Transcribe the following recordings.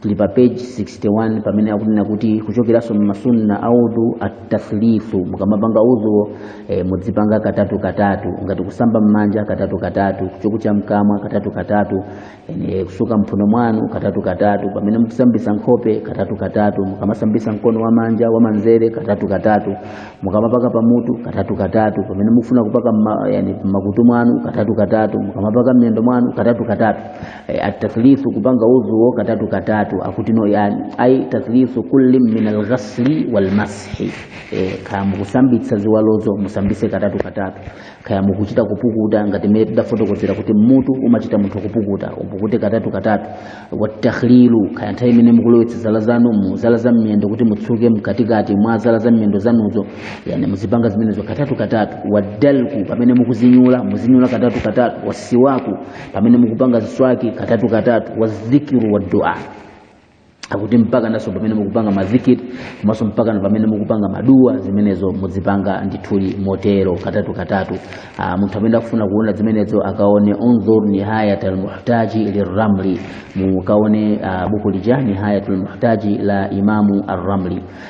tili pa page 61 pamene akunena kuti kuchokeranso mmasunna audhu attaslifu mukamapanga udhuwo e, mudzipanga katatu katatu ngati kusamba mmanja katatu katatu kuchoku cha mkamwa katatu katatu e, kusuka mphuno mwanu katatu katatu pamene mukusambisa nkhope katatu katatu mukamasambisa mkono wa manja wa manzere katatu katatu mukamapaka pamutu katatu katatu pamene mukufuna kupaka mma, yani, mmakutu mwanu katatu katatu mukamapaka mmiyendo mwanu katatu katatu eh, at-tathlithu kupanga udhu katatu katatu akuti no yani ai tathlithu kulli min alghasli walmas-hi eh, kaya mukusambitsa ziwalozo musambise katatu katatu kaya mukuchita kupukuta ngati mmene tidafotokozera kuti mutu umachita munthu kupukuta upukute katatu katatu wattakhlilu kaya nthawi imene mukulowetsa zala zanu mu zala za mmiyendo kuti mutsuke mkatikati mwa zala za mmiyendo zanuzo yani muzipanga zimenezo katatu katatu waddalku pamene mukuzinyula muzinyula katatu katatu wasiwaku pamene mukupanga mswaki katatu katatu wa dhikru wad dua akuti mpaka naso pamene mukupanga mazikiri komanso mpaka na pamene mukupanga madua zimenezo muzipanga ndithuli motero katatu katatu Aa, munthu amene akufuna kuona zimenezo akaone unzur nihayat almuhtaji lirramli mukaone ah, buku lija nihayat almuhtaji la imamu arramli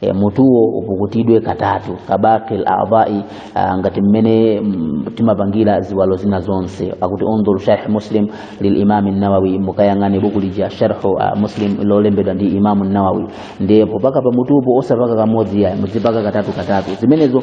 e, mutuwo upukutidwe katatu kabaqil a'dha'i ah, ngati mmene mm, timapangira ziwalo zina zonse akuti undhur sharh muslim lilimam an-nawawi mukayang'ane buku lija sharhu ah, muslim lolembedwa ndi imam an-nawawi ndipo paka pa mutupo osapaka kamodzi yayi muzipaka katatu katatu zimenezo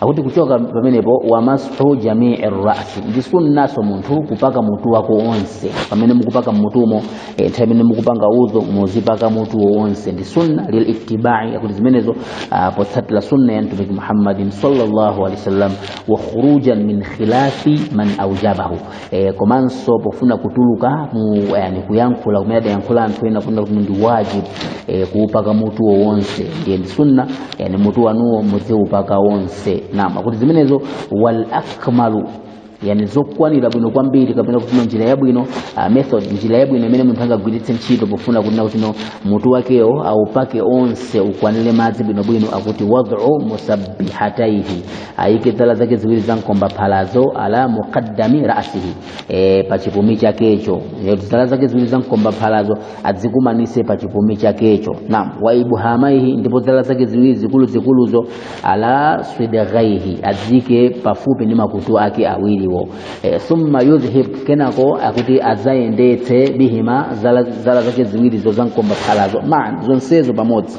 akuti kuchoka pamenepo wamas-hu jamii rrasi ndi sunnaso munthu kupaka mutu wako onse pamene mukupaka mutumo eh, nthawi imene mukupanga udhu muzipaka mutu wonse ndi sunna lilittibai akuti zimenezo ah, potsatira sunna ya mtumiki muhammadin sallallahu alaihi wasallam wa khurujan min khilafi man aujabahu e, komanso pofuna kutuluka mu yani kuyankhula kumene adayankhula anthu ena kunena kuti ndi wajibu e, kuupaka mutuwo wonse ndiye ndi sunna yani mutu wanuwo mudziupaka wonse nam akuti zimenezo wal akmalu yani zokwanira bwino kwambiri kapena kuti no njira yabwino uh, method njira yabwino imene munthu angagwiritse ntchito pofuna kunena kuti no mutu wakewo aupake onse ukwanire madzi bwinobwino akuti wad'u musabbihataihi ayike zala zake ziwiri za mkombaphalazo ala muqaddami rasihi e, pa chipumi chakecho E, zala zake ziwiri za mkombaphalazo adzikumanise pa chipumi chakecho naam wa ibhamaihi ndipo zala zake ziwiri zikuluzikuluzo ala swidghaihi adzike pafupi ndi makutu ake awiriwo e, thumma yudhhib kenako akuti adzayendetse bihima zala, zala zake ziwirizo za mkombaphalazo man zonsezo pamodzi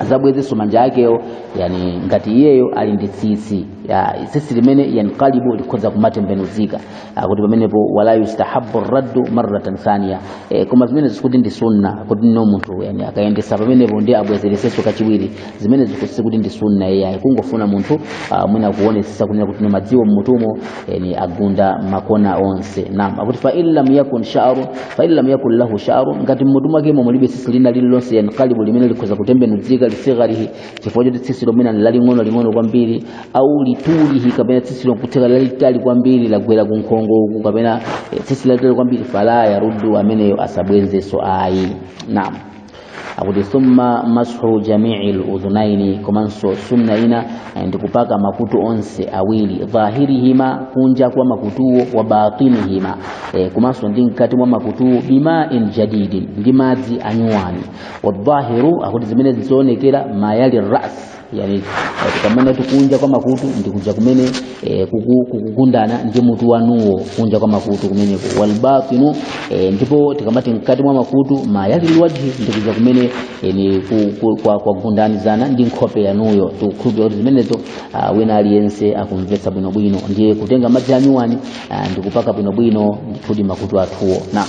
azabwezenso manja akewo yani ngati iyeyo ali ndi tsitsi ya tsitsi limene yanqalibu likhoza kumatembenuzika Ah, kuti pamenepo wala yustahabbu raddu marratan thaniya e, koma zimenezi sikuti ndi sunna kuti no munthu yani akayendesa pamenepo ndi abwezeresenso kachiwiri zimenezi kuti sikuti ndi sunna iyayi kungofuna munthu ah, mwina kuonesesa kunena kuti no madziwo mmutumo yani agunda makona onse naam akuti fa in lam yakun sha'ru fa in lam yakun lahu sha'ru ngati mmutu mwake momwe mulibe tsitsi lina lililonse yanqalibu limene likhoza kutembenuzika lisigharihi chifukwa choti tsitsi lomwelo laling'ono ling'ono kwambiri au litulihi kapena tsitsi lokutheka lalitali kwambiri lagwera ku nkhongo uku kapena eh, tsitsi lalitali kwambiri fala yaruddu ameneyo asabwenzenso ayi naam akuti thumma mashu jamii ludhunaini komanso sunna ina eh, ndi kupaka makutu onse awiri dhahirihima kunja kwa makutuwo wa batinihima eh, komanso ndi mkati mwa makutuwo bimain jadidin ndi madzi anyuwani wadhahiru akuti zimene zizoonekera mayali ras yani tikamanena kuti kunja kwa makutu ndikuja kumene eh, kuku- kukugundana ndi mutu wanuwo kunja kwa makutu kumeneko walbatinu eh, ndipo tikamati mkati mwa makutu mayalilwajhi ndikuja kumene eh, ni ku- ku- kwa- kwagundanizana ndi nkhope yanuyo tikukhulupirira kuti zimenezo ah, wina aliyense akumvetsa bwinobwino ndiye kutenga madzi anyuwani ah, ndikupaka bwinobwino ndithudi makutu athuwo naam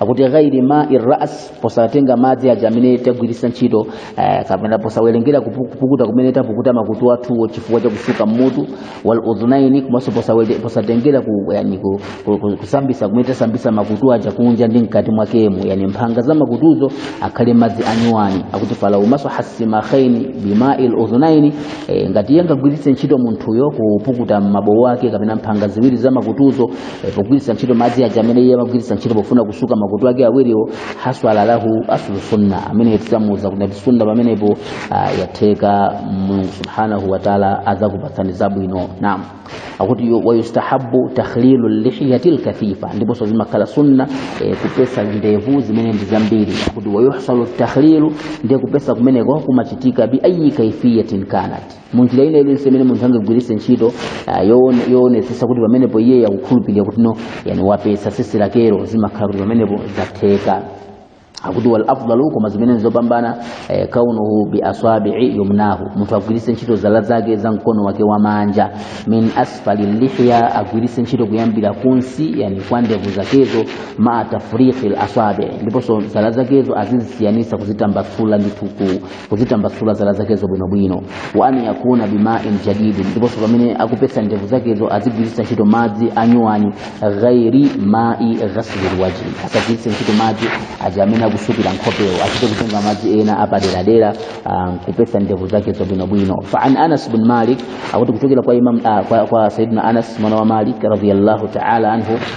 akuti ghairi mai rras posatenga madzi aja amene tagwiritsa ntchito eh, kapena posawerengera kupu- kupukuta kumene tapukuta makutu athuwo chifukwa cha kusuka mmutu wal udhunaini komanso posawere- posatengera ku, yani, ku, ku, ku, kusambisa kumene tasambisa makutu aja kunja ndi mkati mwakemo yani mphanga za makutuzo akhale madzi anyuwani akuti falau masaha simakhaini bimai ludhunaini eh, ngati iye angagwiritse ntchito munthuyo kupukuta mabowo ake kapena mphanga ziwiri za makutuzo pogwiritsa ntchito madzi aja amene iye amagwiritsa ntchito pofuna kusuka makutu ake awiriwo haswala lahu aslu sunna amene tidzamuuza kuti ati sunna pamenepo ah, yatheka mulungu subhanahu wataala adzakupatsani zabwino nam akuti yu- wayustahabu takhlilu lihiyati lkathifa ndiponso zimakhala sunna eh, kupesa ndevu zimene ndi zambiri akuti wayuhsalu takhlilu ndiye kupesa kumeneko kumachitika bi ayi kaifiyatin kanat munjira ina iliyonse imene munthu angagwiritse ntchito ah, yoone- yoonetsetsa kuti pamenepo iye akukhulupirira kuti no yani wapesa sisi lakero zimakhala kuti pamenepo zatheka akuti wal afdalu koma zimene nzopambana eh, kaunuhu bi asabi'i yumnahu munthu agwiritse ntchito zala zake za mkono wake wa manja min asfali lihya agwiritse ntchito kuyambira kunsi yani kwa ndevu zakezo maa tafriqi al asabi ndiponso zala zakezo azizisiyanisa kuzitambasula ndithu ku kuzitambasula zala zakezo bwinobwino wa an yakuna bimain jadidin ndiponso pamene akupesa ndevu zakezo azigwiritsa ntchito madzi anyuwani ghairi mai ghaslil wajhi asagwiritse ntchito madzi aja amene akusukira nkhopewo achite kutenga madzi ena apaderadera ah, nkupesa ndevu zakezo bwinobwino fa an anas bin malik akuti kuchokera kwa imam ah, kwa, kwa sayidina anas mwana wa malik radiyallahu taala anhu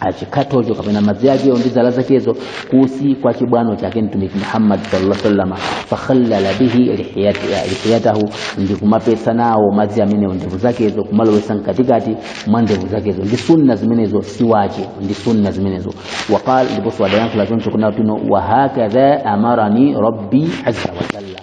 achikatocho kapena madzi akewo ndi zala zakezo kunsi kwa chibwano chake mtumiki muhammad sallallahu alaihi wasallam fakhallala bihi lihiyatahu ndi kumapesa nawo madzi amenewo ndevu zakezo kumalowesa mkatikati mwa ndevu zakezo ndi sunna zimenezo si wajibu ndi sunna zimenezo waqala ndiponso adayankhula choncho kunena kuti wahakadha amarani rabbi azza wa jalla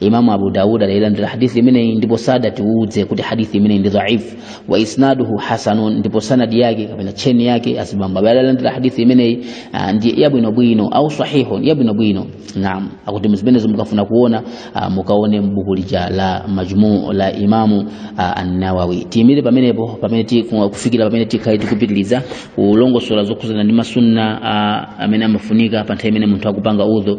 imamu abu dawud adailandira hadithi imeneyi ndipo sadatiuze kuti hadithi imeneyi ndi dhaifu waisnaduhu hasanun ndipo sanadi yake kapena cheni yake azibambo amene adalandira hadithi imeneyi ah, ndi yabwinobwino au sahihun yabwinobwino naam akuti zimenezo mukafuna kuona ah, mukaone mbuku lija la majmuu la imamu ah, annawawi tiyimire pamenepo pamene ti- ku- kufikira pamene tikhale tikupitiriza kulongosola zokhuzana ndi masunna ah, amene amafunika pa nthawi imene munthu akupanga udhu